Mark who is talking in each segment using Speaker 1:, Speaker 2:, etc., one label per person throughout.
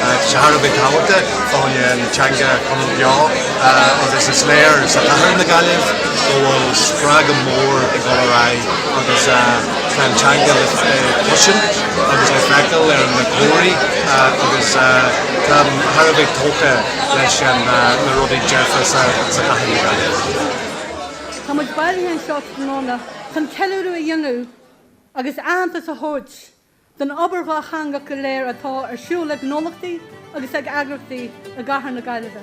Speaker 1: Tá sé thar a bheith tábhachtach dúinn an teanga a choinneáil beo agus is léir sa chathair na Gaillimhe go bhfuil spreagadh mór ag dul ar aghaidh agus tá an teanga le cloisint agus le feiceáil ar na comharthaí agus táim thar a bheith tógtha leis na rudaí dearfa sa chathair na Gaillimhe. Tá muid
Speaker 2: bailithe anseo tráthnóna chun ceiliúradh a dhéanamh agus aitheantas a thabhairt don obair dhátheangach go léir atá ar siúl ag gnólachtaí agus ag eagraíochtaí i gCathair na Gaillimhe.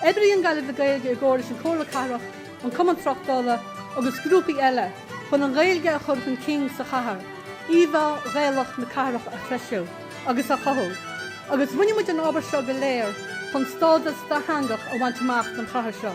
Speaker 2: Oibríonn Gaillimh le Gaeilge i gcomhar leis an Chomhairle Cathrach, an Cumann Tráchtála agus grúpaí eile chun an Ghaeilge a chur chun cinn sa chathair, íomhá Ghaelach na cathrach a threisiú agus a chothú, agus déanann muid an obair seo go léir chun stádas dátheangach a bhaint amach don chathair seo.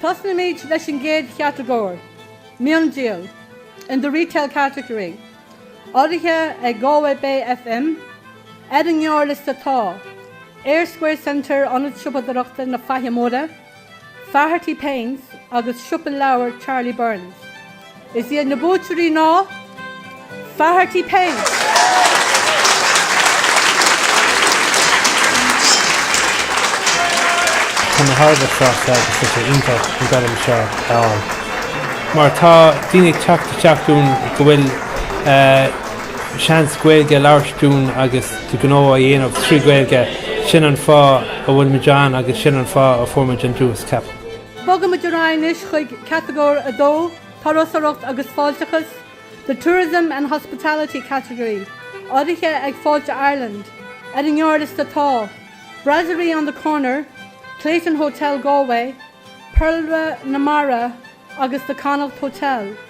Speaker 2: Tosnóimid leis an gcéad chatagóir, miondíol, in the retail category, urraithe ag Galway Bay FM, Ar an ngearrliosta tá, Eyre Square Centre, Ionad Siopadóireachta na Faiche Móire, Faherty Paints agus siopa leabhar Charlie Byrne's. Is iad na buaiteoirí ná Faherty Paints.
Speaker 3: Tá mé thar a bheith sásta agus tá sé iontach an gradam seo a fháil mar tá daoine ag teacht isteach dúinn go bhfuil seans Gaeilge a labhairt dúinn agus do ghnó a dhéanamh trí Ghaeilge, sin an fáth a bhfuil muid ann agus sin an fáth a fuair muid an duais, ceapaim. Bogaimid
Speaker 2: ar aghaidh anois chuig Catagóir 2, Turasóireacht agus Fáilteachas, The Tourism and Hospitality Category, urraithe ag Fáilte Ireland. Ar an ngearrliosta tá, Brasserie on the Corner, Clayton Hotel Galway, Péarla na Mara agus The Connacht Hotel.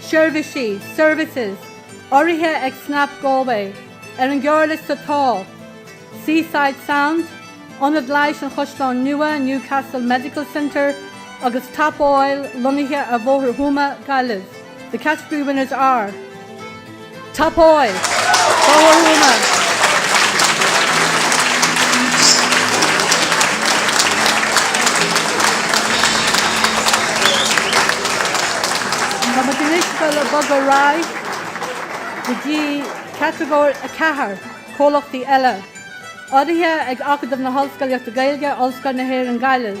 Speaker 2: Seirbhísí, Services, urraithe ag Snap Galway, ar an ngearrliosta tá, Seaside Sound, Ionad Leighis an Chaisleáin Nua, Newcastle Medical Centre, agus Top Oil, lonnaithe ar Bhóthar Thuama, Gaillimh. The category winners are. Top Oil! Fág orthu an meas! Tá muid anois le bogadh ar aghaidh go dtí Catagóir 4, Comhlachtaí Eile, urraithe ag Acadamh na hOllscolaíochta Gaeilge, Ollscoil na hÉireann Gaillimh.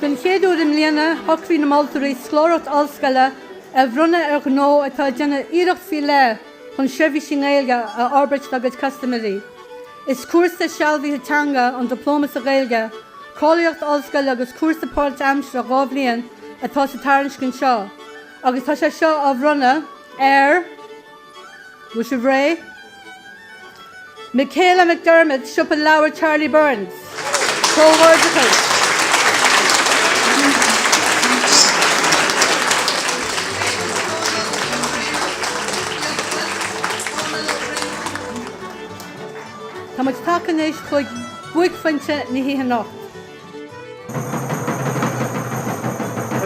Speaker 4: Den
Speaker 2: chéad uair i mbliana, shocraigh na moltóirí scoláireacht ollscoile a bhronnadh ar ghnó atá ag déanamh iarracht faoi leith chun seirbhísí i nGaeilge a fhorbairt dá gcuid custaiméirí. Is cúrsa sealbhaithe teanga an Dioplóma sa Ghaeilge, cáilíocht ollscoile agus cúrsa páirt-aimseartha dhá bhliain atá sa tairiscint seo agus tá sé seo á bhronnadh ar Bhfuil sibh réidh? Michaela McDermott, Siopa Leabhar Charlie Byrne's. Comhghairdeachas! Tá muid tagtha anois chuig buaicphointe na hoíche anocht.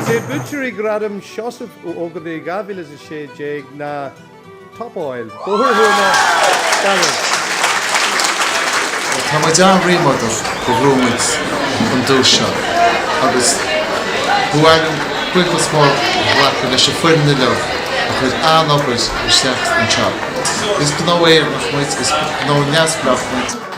Speaker 5: Is iad buaiteoirí Ghradam Sheosaimh Uí Ógartaigh 2016 ná Top Oil, Bóthar Thuama, Gaillimh.
Speaker 6: Tá muid an-ríméadach gur bhuaigh muid an duais seo agus ba mhaith liom buíochas mór a ghlacadh leis an foireann uilig a chuir an-obair isteach anseo. Is gnó Éireannach muid, is gnó neamhspleách muid.